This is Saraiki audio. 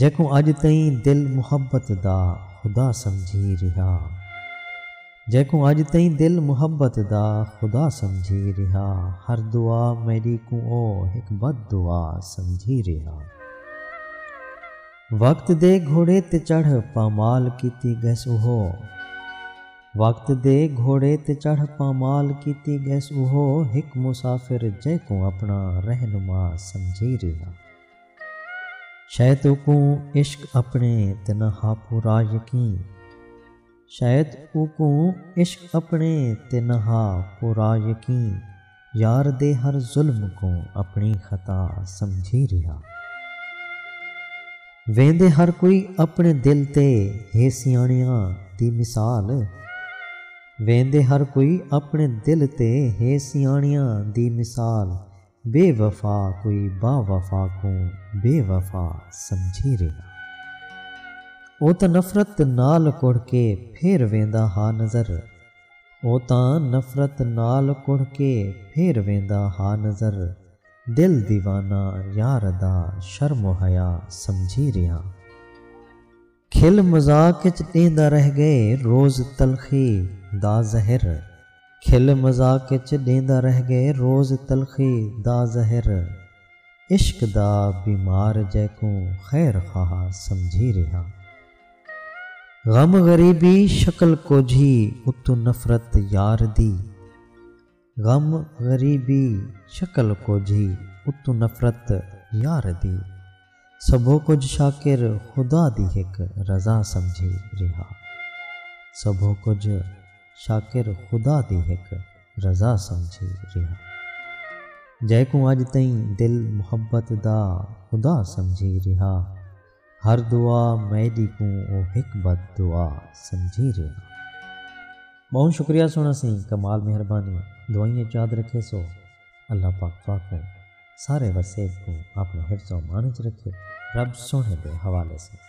جیکوں اڄ تئیں دل محبت دا خدا سمجھی رہیا جیکوں اڄ تئیں دل محبت دا خدا سمجھی رہیا ہر دعا میݙی کوں او ہک بد دعا سمجھی رہیا وقت دے گھوڑے تے چڑھ پامال کیتی ڳس اوہو وقت دے گھوڑے تے چڑھ پامال کیتی ڳس اوہو ہک مسافر جیکوں اپݨا رہنما سمجھی رہیا۔ شاید اوکوں عشق اپݨے تے نہ ہا پورا یقین شاید اوکوں عشق اپݨے تے نہ ہا پورا یقین یار دے ہر ظلم کوں اپݨی خطا سمجھی رہیا ویندے ہر کوئی اپݨے دل تے ہے سیاݨیاں دی مثال ویندے ہر کوئی اپݨے دل تے ہے سیاݨیاں دی مثال بے وفا کوئی با وفا کوں بے وفا سمجھی رہیا۔ او تاں نفرت نال کڑھ کے پھر ویندا ہا نظر او تاں نفرت نال کڑھ کے پھر ویندا ہا نظر دل دیوانہ یار دا شرم و حیا سمجھی رہیا۔ کھل مذاق اچ ݙیندا رہ ڳئے روز تلخی دا زہر کھل مذاق اچ ݙیندا رہ ڳئے روز تلخی دا زہر عشق دا بیمار جیکوں خیر خواہ سمجھی ریہا غم غریبی شکل کوجھی اتوں نفرت یار دی۔ غم غریبی شکل کجھ ہی اتوں نفرت یار دی سبھو کجھ شاکر خدا دی ہک رضا سمجھی ریہا سبھو کجھ شاکر خدا دی ہک رضا سمجھی ریہا جیکوں اج تئیں دل محبت دا خدا سمجھی ریہا۔ ہر دعا میݙی کوں او ہک بد دعا سمجھی رہیا۔ ٻہوں شکریہ سوہݨا سئیں کمال مہربانی دعائیں اچ یاد رکھیسو اللہ پاک تہاکوں سارے وسیب کوں آپݨے حفظ و امان اچ رکھے رب سوہݨے دے حوالے سئیں۔